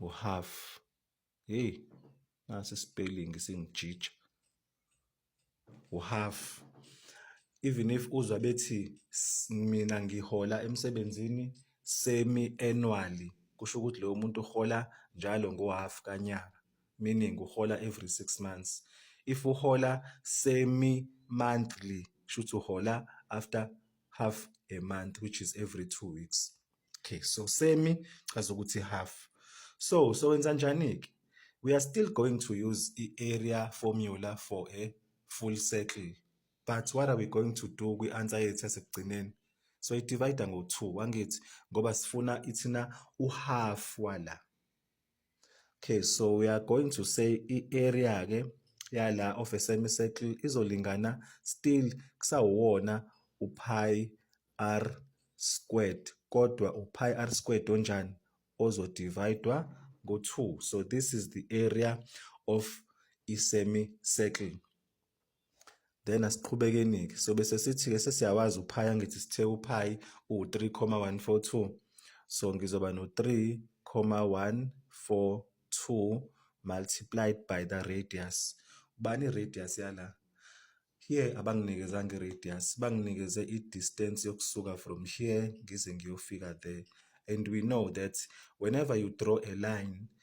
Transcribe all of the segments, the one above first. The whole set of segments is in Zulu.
uhalf hey nasi spelling singijija uhalf even if uzwa bethi mina ngihola emsebenzini semi annually kusho ukuthi lowo muntu uhola njalo ngohalf kanyaka meaning uhola every 6 months if uhola semi monthly shuthi uhola after half a month which is every 2 weeks okay so semi chaza ukuthi half so so wenza njani ke we are still going to use i-area formula for a full circle but what are we going to do kwi-answer yethu yasekugcineni so idivayida ngo-two wangithi ngoba sifuna ithina uhalf wala Okay, so we are going to say i-area ke yala of a semicircle izolingana still kusawona upi r squared kodwa upi r squared onjani ozodividwa ngo-2 so this is the area of i-semicircle then asiqhubekeni-ke so bese sithi-ke sesiyawazi uphayi angithi sithe uphayi uwu-3,142 so ngizoba no-3,142 multiplied by the radius ubani i-radius yala here abanginikezanga i-radius banginikeze i-distance yokusuka from here ngize ngiyofika there and we know that whenever you draw a line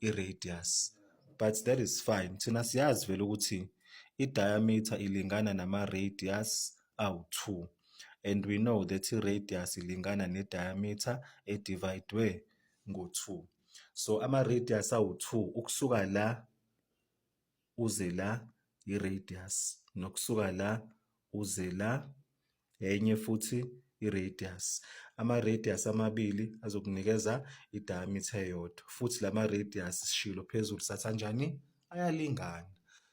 i-radius but that is fine thina siyazi vele ukuthi i-diameter ilingana nama-radius awu-2 and we know that i-radius ilingana ne-diameter edivayidwe ngo-2 so ama-radius awu-2 ukusuka la uze la i-radius nokusuka la uze la enye futhi i-radius. Ama-radius amabili azokunikeza i-diameter eyodwa futhi la ma-radius sishilo phezulu sathi anjani? Ayalingana.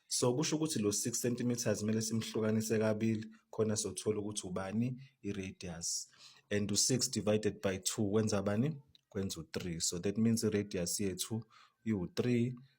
So kusho ukuthi lo 6 cm kumele simhlukanise kabili khona sothola ukuthi ubani i-radius and u-6 divided by 2 kwenza bani? Kwenza u-3. So that means i-radius yethu iwu-3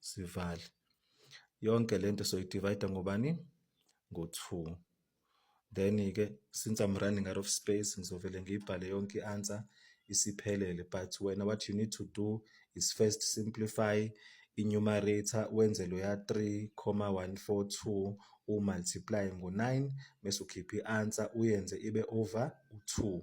sivale yonke lento so divide ngobani ngo-2 then-ke since I'm running out of space ngizovele ngiyibhale yonke i-answer isiphelele but wena what you need to do is first simplify i-numerator wenze loya 3,142 umultiply ngo-9 bese ukhipha i-answer uyenze ibe over u-2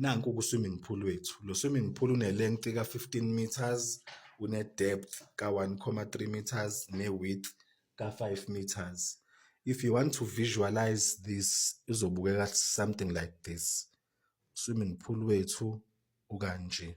Nanku ku-swimming pool wethu. Lo swimming pool une-length ka-15 meters, une-depth ka-1.3 meters ne-width ka-5 meters. If you want to visualize this, izobukeka something like this. Swimming pool wethu ukanje.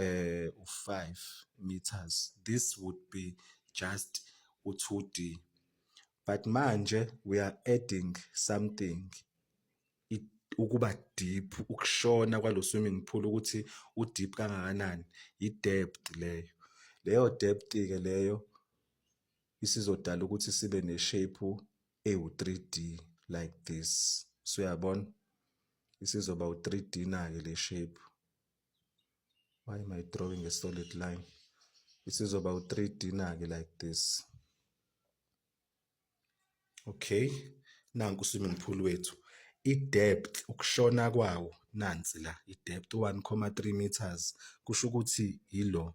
eh, u-5 meters this would be just u-2d but manje we are adding something it, ukuba deep ukushona kwalo swimming pool ukuthi u-deep kangakanani yi-depth leyo leyo depth-ke leyo isizodala ukuthi sibe ne-shape ewu-3d like this so uyabona isizoba u-3d nake le shape why am i drawing a solid line isizoba u-3d na-ke like this okay nanku u-swimming pool wethu i-depth ukushona kwawo nansi la i-depth 1,3 meters kusho ukuthi yilo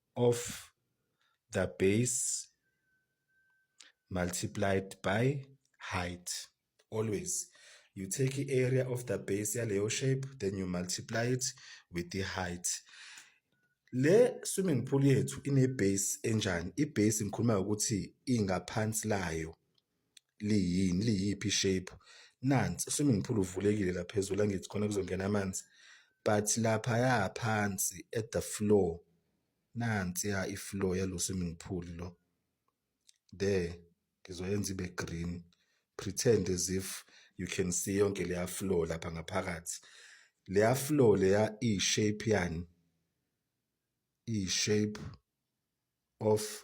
of the base multiplied by height. Always. You take the area of the base yaleyo shape then you multiply it with the height. Le swimming pool yethu ine base enjani? I base ngikhuluma ukuthi ingaphansi layo. liyini liyiphi shape nansi swimming pool uvulekile la phezulu angithi khona kuzongena amanzi but lapha ya phansi at the floor nansi ya ifloor yalo swimming pool lo there ngizoyenza ibe green pretend as if you can see yonke leya floor lapha ngaphakathi leya floor leya i shape yani i shape of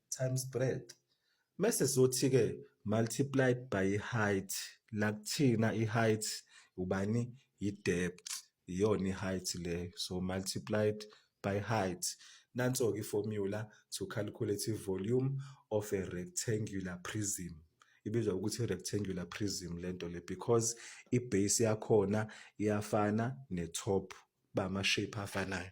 times breadth mese sothi ke multiplied by height la kuthina i height ubani i depth iyona i height le so multiplied by height nanso ke formula to calculate i volume of a rectangular prism ibizwa ukuthi rectangular prism lento le because i base yakhona iyafana ne top ba ama shape afanayo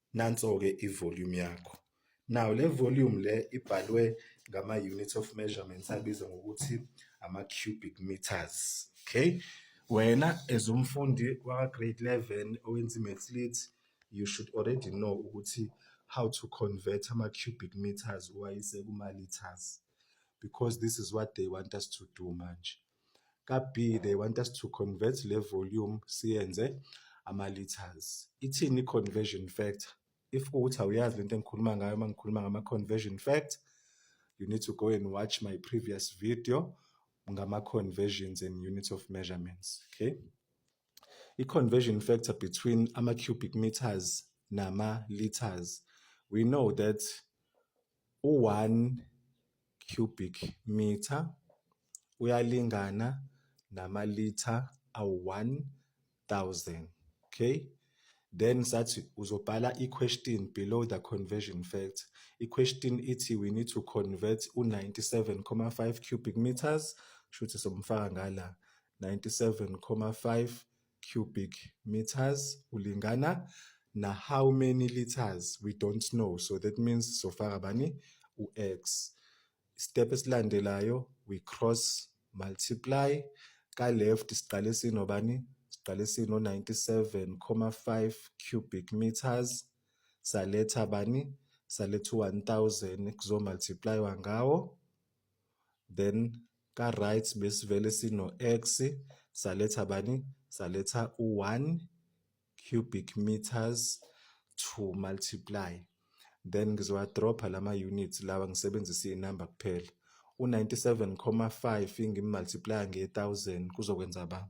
Nanso-ke i-volume yakho. Now le volume le ibhalwe ngama-units of measurements abizwa ngokuthi ama-cubic meters. Okay? Wena as umfundi waka-grade 11 owenza i-maths lit, you should already know ukuthi how to convert ama-cubic meters uwayise kuma-liters because this is what they want us to do manje. Ka-B, they want us to convert le volume siyenze ama-liters. Ithini i-conversion factor? If kuwukuthi awuyazi le nto engikhuluma ngayo uma ngikhuluma ngama-conversion factor, you need to go and watch my previous video ngama-conversions and units of measurements, okay? I-conversion factor between ama-cubic meters nama-liters. We know that U-one cubic metre uyalingana namalitha awu-one thousand. Okay? Then sathi uzobhala i-question below the conversion factor. I-question ithi we need to convert u-97,5 cubic meters, shuthi somfaka ngala 97,5 cubic meters ulingana na how many liters we don't know so that means sofaka bani u-x step esilandelayo we cross multiply ka left siqale sinobani siqale sino 97,5 cubic meters saletha bani saletha 1000 kuzomultiplywa ngawo then ka-right besivele sino-x saletha bani saletha u-1 cubic meters to multiply then ngizowadropha lama-unit lawa ngisebenzisa iy'namba kuphela u-97,5 ngimultiplya nge-1000 kuzokwenza ba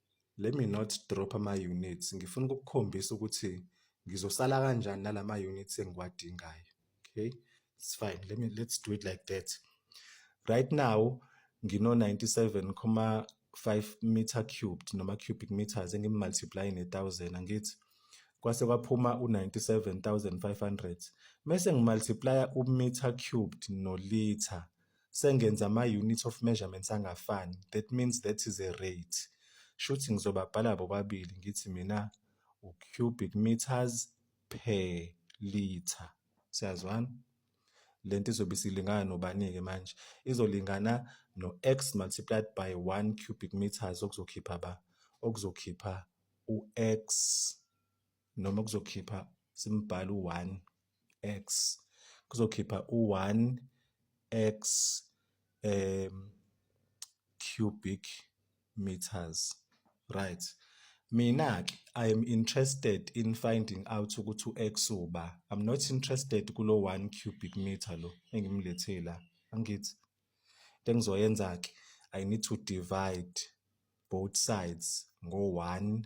Let me not drop ama-units. Ngifuna ukukukhombisa ukuthi ngizosala kanjani nalama-units engiwadingayo. Okay, it's fine. Let me, let's do it like that. Right now, ngino-97,5 meter cubed noma cubic meters engimultiply ne-1000 angithi kwase kwaphuma u-97500 mese ngimultiplya u-meter cubed nolitha sengenza ama-unit of measurements angafani that means that is a rate shuthi ngizobabhala bobabili ngithi mina u-cubic meters per liter siyazwana le nto izobe isilingana nobani-ke manje izolingana no-x multiplied by 1 cubic meters okuzokhipha ba okuzokhipha u-x noma kuzokhipha simbhala u-1 x kuzokhipha u-1 x um cubic meters right mina ke i am interested in finding out ukuthi u-x uba i'm not interested kulo 1 cubic meter lo engimlethela angithi Into engizoyenza-ke, I need to divide both sides ngo-one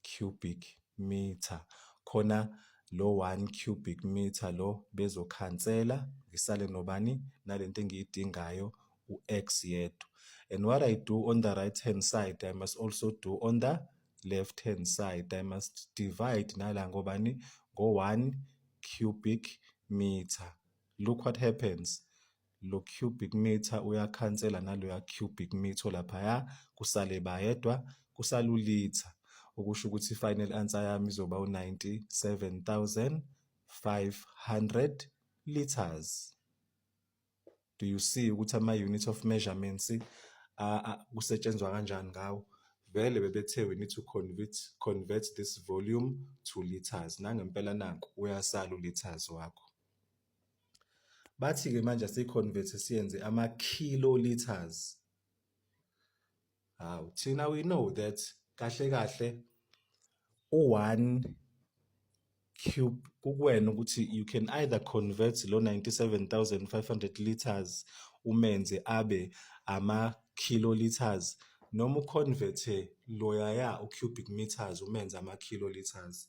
cubic meter. Khona lo one cubic meter lo bezokhansela, ngisale nobani? Nale nto engiyidingayo u-x yedwa. And what I do on the right hand side, I must also do on the left hand side. I must divide nala ngobani? Ngo-one cubic meter. Look what happens. lo cubic meter uyakhansela naloya cubic meter laphaya kusale bayedwa kusalulitha okusho ukuthi i-final answer yami izoba u-97500 liters do you see ukuthi ama-unit of measurements kusetshenzwa kanjani ngawo vele bebethe we need to convert, convert this volume to liters nangempela naku uyasala uliters wakho Bathi-ke manje asiyi-convert-e siyenze ama-kiloliters. Hawu, thina we know that kahle kahle u-one cube kukuwena ukuthi you can either convert lo 97500 liters umenze abe ama-kiloliters noma u-convert-e loyaya u-cubic meters umenze ama-kiloliters.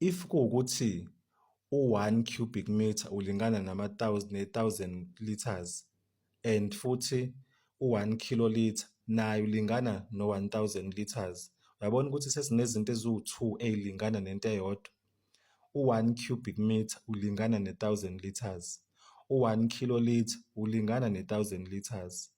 If kuwukuthi u-one cubic meter ulingana nama-thousand ne-thousand litres and futhi u-one kiloliter naye ulingana no-one thousand litres, uyabona ukuthi sesinezinto eziwu-two ey'lingana nento eyodwa. U-one cubic meter ulingana ne-thousand litres, u-one kiloliter ulingana ne-thousand litres.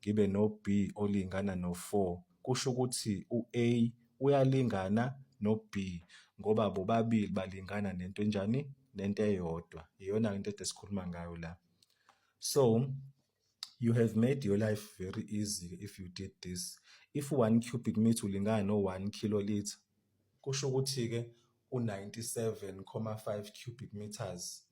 ngibe no-B olingana no-4, kusho ukuthi u-A uyalingana no-B ngoba bobabili balingana nento enjani? Nento eyodwa. Iyona-ke into ede sikhuluma ngayo la. So, you have made your life very easy if you did this. If 1 cubic meter ulingana no-1 kiloliter, kusho ukuthi-ke u-97.5 cubic meters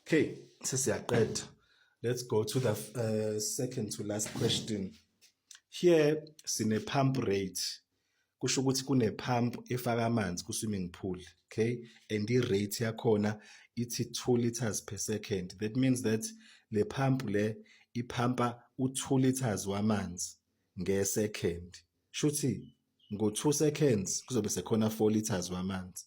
okay sesiyaqeda let's go to the uh, second to last question here sine pump rate kusho ukuthi kune pump efaka amanzi ku swimming pool okay and i rate yakhona ithi 2 liters per second that means that le pump le iphampa u2 liters wamanzi nge second shuthi ngo 2 seconds kuzobe sekhona 4 liters wamanzi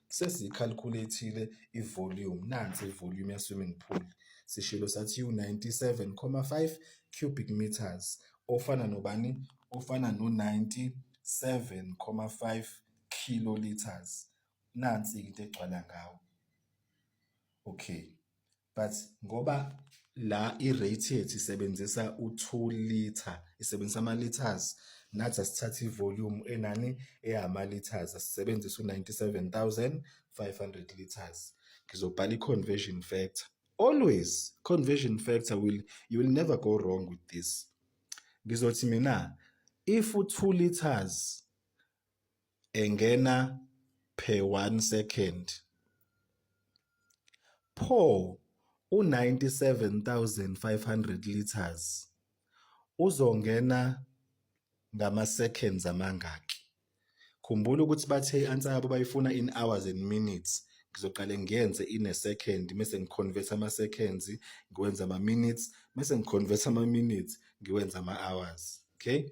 Sesiyikhalkhulethile i-volume, nansi i-volume ya-swimming pool. Sishilo sathi iwu-97.5 cubic meters, ofana nobani? Ofana no-97.5 kiloliters. Nansi-ke into egcwala ngawo. Okay. but ngoba la i-rate yethu isebenzisa u-2 liter isebenzisa ama-liters nathi asithatha i-volume enani eyama-liters asisebenzisa u-97500 liters ngizobhala i-conversion factor always conversion factor will you will never go wrong with this ngizothi mina if u-2 liters engena per 1 second. Pho u-97,500 litres uzongena ngama-seconds amangaki? Khumbula ukuthi bathe i-answer yabo bayifuna in hours and minutes. Ngizoqale ngiyenze in a second mese ngi-convert ama-seconds, ngiwenze ama-minutes, mese ngi-convert ama-minutes, ngiwenze ama-hours. Okay?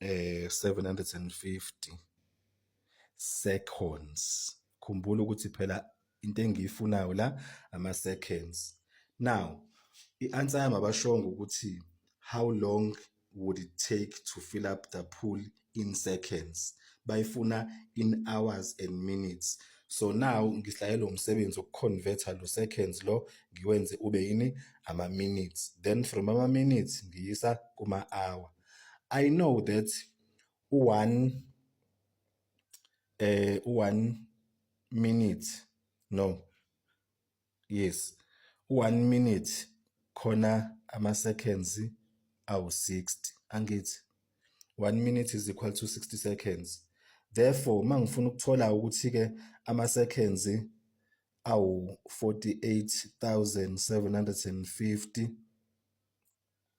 eh 750 seconds khumbula ukuthi phela into engiyifunayo la ama seconds now i-answer yami abashongo ukuthi how long would it take to fill up the pool in seconds bayifuna in hours and minutes so now ngislayelwe umsebenzi wokuconverter lo seconds lo ngiwenze ube yini ama minutes then from ama minutes ngiyisa kuma hour i know that u1 eh u1 minute no yes u-one minute khona ama-seconds awu-60 angithi one minute is equal to 60 seconds therefore uma ngifuna ukuthola ukuthi-ke ama-seconds awu-48750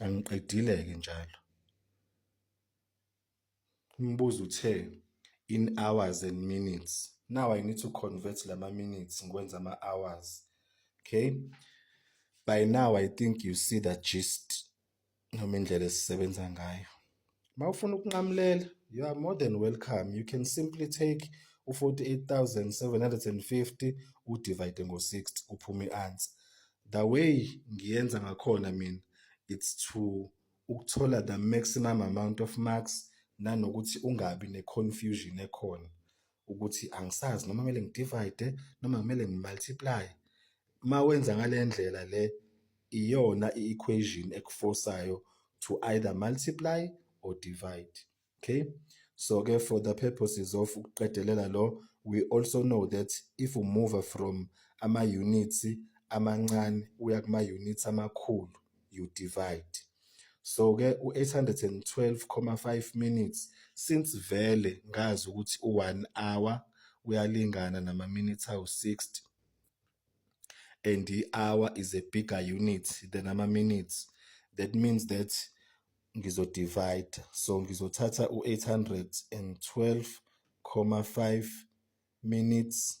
Angiqedile-ke njalo. Umbuzo uthe in hours and minutes. Now I need to convert lama minutes ngikwenza ama hours. Okay? By now I think you see the gist noma indlela esisebenza ngayo. Uma ufuna ukunqamulela, you are more than welcome. You can simply take u-48,750 udivide ngo-60 kuphume i-answer. The way ngiyenza ngakhona mina, it's to ukuthola the maximum amount of marks nanokuthi ungabi ne-confusion ekhona. ukuthi angisazi noma kumele ngidivide noma kumele ngimultiply uma wenza ngale ndlela le iyona i-equation ekufosayo to either multiply or divide okay so ke for the purposes of ukuqedelela lo we also know that if we move from ama-units amancane uya kuma-units amakhulu you divide so ke u-812.5 minutes since vele ngazi ukuthi u-1 hour uyalingana nama-minutes awu-60 and i-hour is a bigger unit than ama-minutes that means that ngizodivide so ngizothatha u-812.5 minutes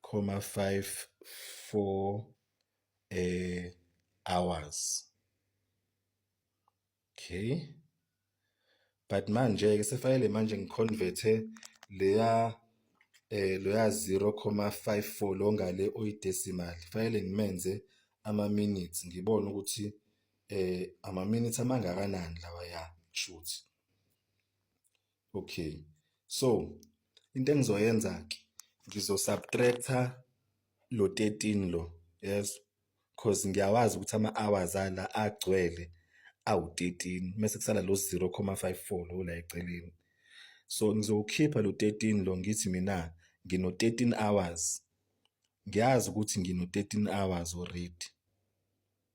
comma 5 4 eh hours okay but manje ke sefanele manje ngiconverte leya eh loya 0.54 lo ngale oyidecimal fanele ngimenze ama minutes ngibone ukuthi eh ama minutes amangakanani lawa ya shuthi okay so into engizoyenza ke ngizo subtractor lo 13 lo yes cause ngiyawazi ukuthi ama hours ala agcwele awu 13 mase kusala lo 0.54 lo la eceleni so ngizokhipha lo 13 lo ngithi mina ngino 13 hours ngiyazi ukuthi ngino 13 hours already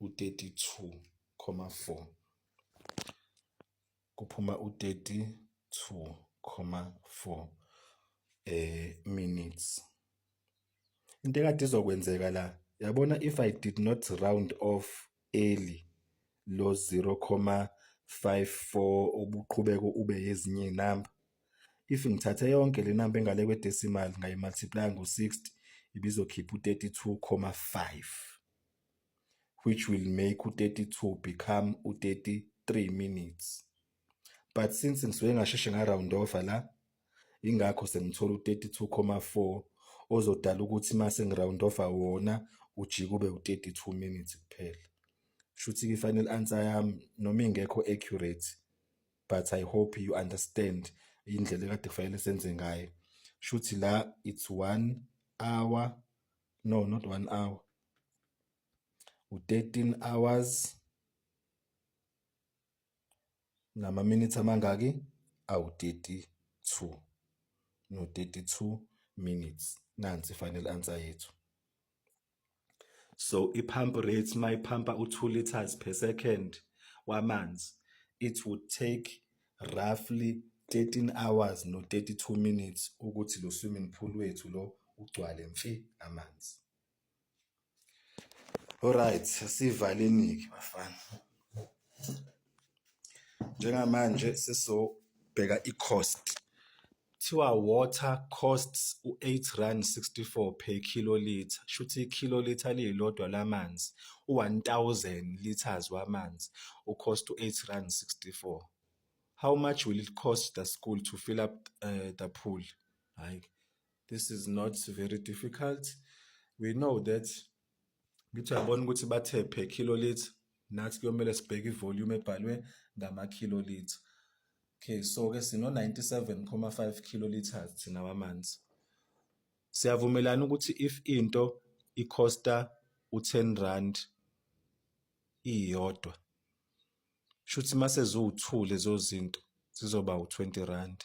u-32.4 kuphuma u-32.4 eh minutes into ekade izokwenzeka la yabona if i did not round off early lo 0.54 ubuqhubeko ube yezinye inamba if ngithathe yonke le namba engale kwedecimal ngayimultiply ngo-60 ibizokhipha u-32.5 which will make u-32 become u-33 minutes but since ngisuke ngasheshe nga-round over la ingakho sengithola u-32,4 ozodala ukuthi uma sengi-round over wona ujike ube u-32 minutes kuphela shuthi i-final answer yami noma ingekho accurate but i hope you understand indlela ekade kufanele senze ngayo shuthi la it's 1 hour no not one hour u-13 hours namaminithi amangaki awu-32 no-32 minutes nansi final answer yethu so i-pump rate mayiphampa u-2 liters per second wamanzi it would take roughly 13 hours no 32 minutes ukuthi lo swimming pool wethu lo ugcwale mfi amanzi. Alright, sivaleni-ke bafana. Njengamanje sesizobheka i-cost Kuthiwa water costs u-R8.64 per kilolitre, shuthi i-kilolitre elilodwa lamanzi, u-1000 litres wamanzi, u cost u-R8.64. How much will it cost the school to fill up the pool? Hhayi, this is not very difficult. We know that Ngithi uyabona ukuthi bathe per kilolitha, nathi kuyomele sibheke ivolume ebhalwe ngamakilolitha. Okay, so-ke sino-97.5 kiloliters thina wamanzi. Siyavumelana ukuthi if into ikhosta u-10 rand iyodwa, shuthi uma seziwu-2 lezo zinto zizoba u-20 rand.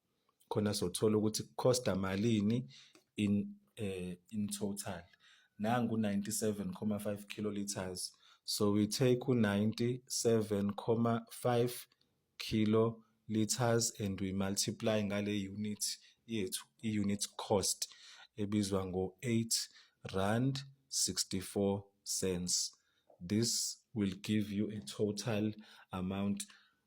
khona sothola ukuthi costa malini in uh, in total nangu 97,5 kiloliters so we take u 97,5 kiloliters and we multiply ngale unit yethu i unit cost ebizwa ngo 8 rand 64 cents this will give you a total amount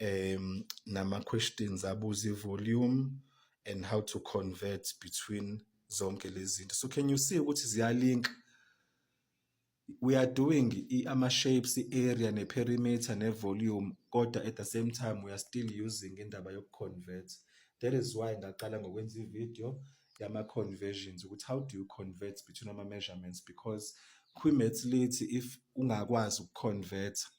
um nama questions abuza ivolume and how to convert between zonke lezi zinto so can you see ukuthi ziyalink we are doing ama shapes area ne perimeter ne volume kodwa at the same time we are still using indaba yoku convert that is why ngaqala ngokwenza ivideo yama conversions ukuthi how do you convert between ama measurements because kwi maths lithi if ungakwazi uku convert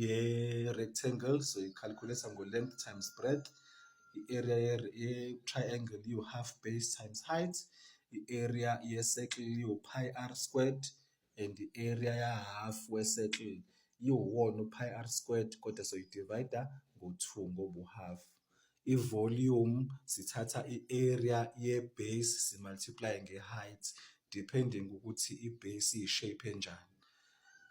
ye-rectangle soyikhalikhulesa ngo-length times breadth i-area ye-triangle iwu-half base times height i-area ye-circle iwu-pi r squared and i-area ya-half we-circle iwuwona u-pi r squared kodwa soyidivayida ngo-two ngobu-half. i-volume sithatha i-area ye-base si-multiply-e nge-height depending ukuthi i-base iyi-shape enjani.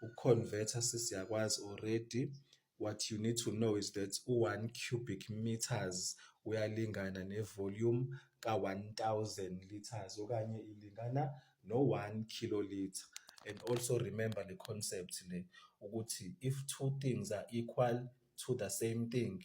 Uku-convert-a sesiyakwazi already, what you need to know is that u-one cubic metres uyalingana ne-volume ka-one thousand litres okanye ilingana no-one kilolitre. And also remember le concept le ukuthi if two things are equal to the same thing,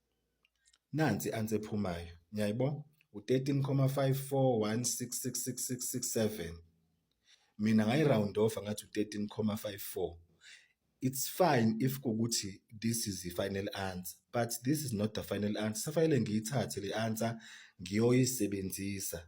Nansi i-answer ephumayo. Niyayibona? U-13,54166667. Mina ngayi-round off ngathi u-13,54. It's fine if kukuthi this is i-final answer but this is not the final answer. Safanele ngiyithathe le answer ngiyoyisebenzisa.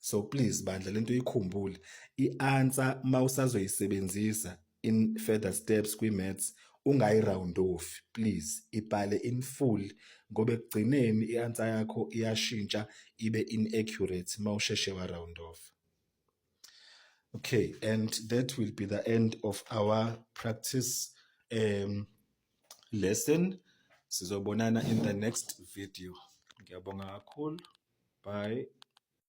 so please bandla lento ikhumbule i-answer uma usazoyisebenzisa in further steps kwi-maths ungayi-round off please ibhale in full ngoba ekugcineni i-answer yakho iyashintsha ibe inaccurate uma usheshe wa-round off okay and that will be the end of our practice um, lesson sizobonana in the next video ngiyabonga kakhulu bye